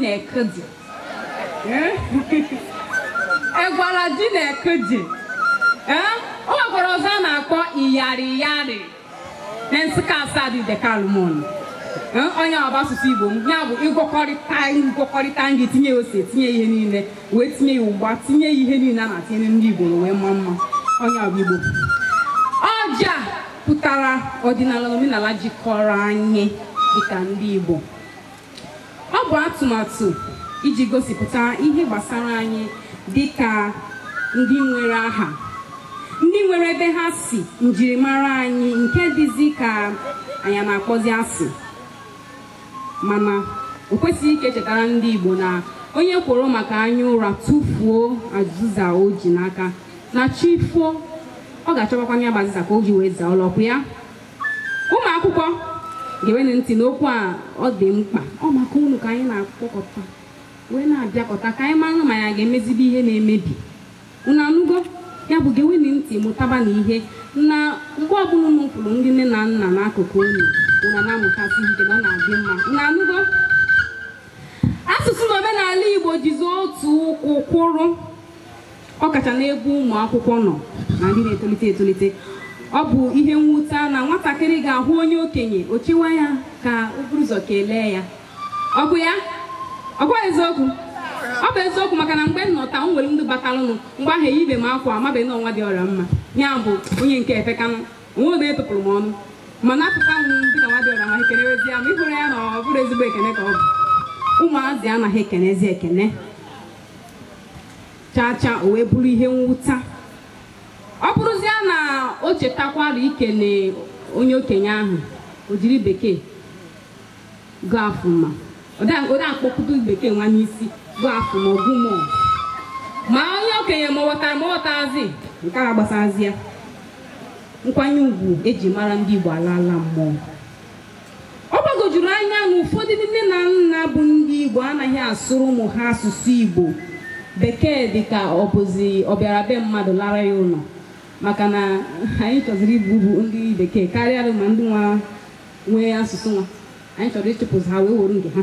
na-ekedi egwara di na-ekedi o nwekwara ọzọ a na-akpọ iyari iyari na nsụka asadu ideke alumona onye ọba asụsụ igbo m ya bụ ịgwọkọrịta ngwọkọrịta nri tinye ya ose tinye ihe niile wee tinye ya ụgba tinye ya ihe niile a na-atinye ndị igbo wee mma mma onye ọba igbo ọja pụtara ọdịnala na omenala jikọrọ anyị dịka ndị igbo Ọ bụ atụmatụ iji gosipụta ihe gbasara anyị dị ka ndị nwere aha ndị nwere ebe ha si njirimara anyị nke dịzi ka anyị na-akpọzi asị mana o kwesịghị ka e chetara ndị Igbo na onye kworo maka anya ụra tụfuo azịza o ji n'aka na chi foo ọ ga-achọkwakwa ya bụ azịza ka o ji wee zaa ụlọkwụ ya ụmụ akwụkwọ gewenụ ntị n'okwu a ọ dị mkpa ọ maka unu ka anyị na-akpọkọta wee na-abịakọta ka anyị mara ma ya ga-emezibe ihe na-emebi unu anụgo ya bụ gewenụ ntị mụtabanụ ihe na mgbe ọbụla unu nọkwuru ndị nne na nna n'akụkụ unu unu na-amụtasị ihe na ọ na-adị mma unu anụgo asụsụ na omenala igbo jizi otu ụkwụ kwụrụ ọ kacha n'ebe ụmụ akwụkwọ nọ na ndị na-etolite etolite ọ bụ ihe mwute na nwatakịrị ga-ahụ onye okenye o chewa ya ka o buru ụzọ kelee ya ọ kwa ya ọ kwa eziokwu ọ bụ eziokwu maka na mgbe m nọ taa m nwere ndị batalụnụ mgbe ahụ eyibe m akwa amabeghị na ọ nwa dị ọra mma ya bụ onye nke efekanụ onwe obe etụpụrụ m ọnụ mana apụta m dị na nwa dị ọra mma ekenewezi ya ma ị hụrụ ya na ọ bụrụ ezigbo ekene ka ọ bụ ụmụazị anaghị ekenezi ekene chaa chaa o wee bụrụ ihe mwute ọ bụrụzie na o chetakwara ikele onye okenye ahụ o jiri bekee good afternoon ma ode akpọkụta bekee nwa n'isi good afternoon ma good morning ma onye okenye ma ọ ghọtara ma ọ ghọtazi nke ahụ agbasazi ya nkwanye ugwu eji mara ndị Igbo alaala mmụọ ọ gbagojuru anya na ụfọdụ nne na nna bụ ndị Igbo anaghị asụrụ ụmụ ha asụsụ Igbo bekee dị ka ọ bụzi ọ bịara be mmadụ nara ya ụlọ maka na anyị chọziri ịbụ bụ ndị bekee karịa ma ndị nwa nwe asụsụ nwa anyị chọrọ ịchụpụzi ha wee were nke ha